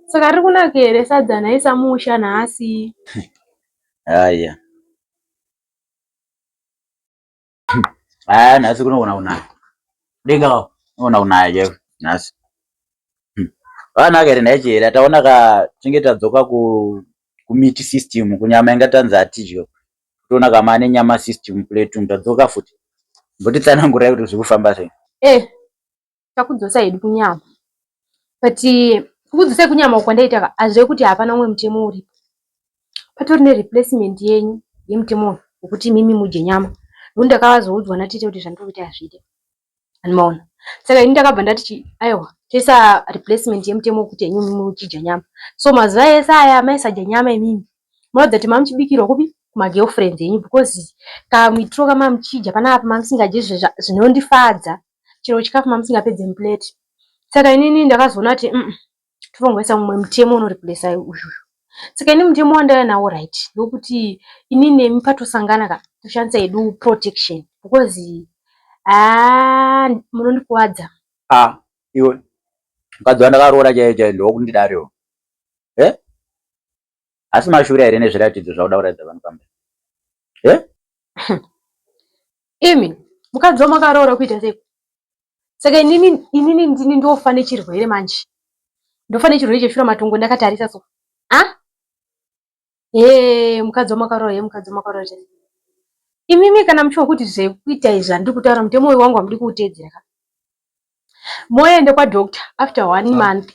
Saka riri kunaka here sadza naisa musha nhasi? Haya. Haya nhasi kunogona kunaka. Denga wao unogona kunaya chaiwo nhasi. Vanaka here ndaichera taona ka tinge tadzoka ku kumiti system kunyama inga tanzi hatidyo. Toona kama ane nyama system plate tadzoka futi. Mbotitsanangurai kuti zviri kufamba sei. Eh. takudzosa hedu kunyama but kukudzosai kunyama uko ndaita hazve kuti hapana umwe mutemo uripo patori nereplacement yenyu yemutemo uyu wekuti mimi mudye nyama nokuti ndakavazoudzwa natete kuti zvandiri kuita hazviite anomaona saka ini ndakabva ndati aiwa toisa replacement yemutemo wekuti henyu mimi muchidya nyama so mazuva ese aya maisadya nyama imimi munoratidza kuti mamuchibikirwa kupi kumagirlfriends enyu because kamitiro kamamuchidya panapa mamusingadye zvinondifadza chero chikafu mamusingapedze muplate saka inini ndakazoona kuti umm totongoisa mumwe mutemo unoreplesa uyu saka ini mutemo wandaiya nawo right ndokuti ini nemi patosangana ka toshandisa yedu protection because haa munondikuvadza ah iwe mukadzi wandakaroora chaiye chaiye ndokundidariwo e eh? asi mashura here nezviratidzo zvauda kuratidza vanhu pamba e imi mukadzi wamakaroora kuita sei saka inini inini ndini ndofa nechirwere manje ndofa nechirwere cheshura matongo ndakatarisa so a e mukadzi wamakaroora ye mukadzi wamakaroora chese imimi kana muchiwa kuti zvekuita izvi handiri kutaura mutemo uyu wangu hamudi kuuteedzera ka moende kwadoctor after one ah. month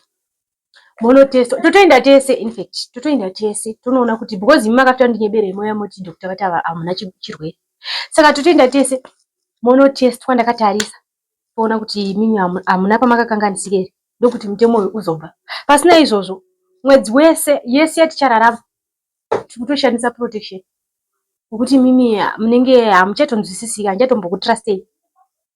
monotesta totoenda tese infact totoenda tese tonoona kuti because imi makafita ndinyeberei moya moti doctor vati ava hamuna chirwere saka totoenda tese monotestwa ndakatarisa toona kuti imimi hamuna pamakakanganisika here ndokuti mutemo uyu uzobva pasina izvozvo mwedzi wese yese yatichararama tiri kutoshandisa protection nokuti imimi munenge hamuchatonzwisisika handichatombokutrastei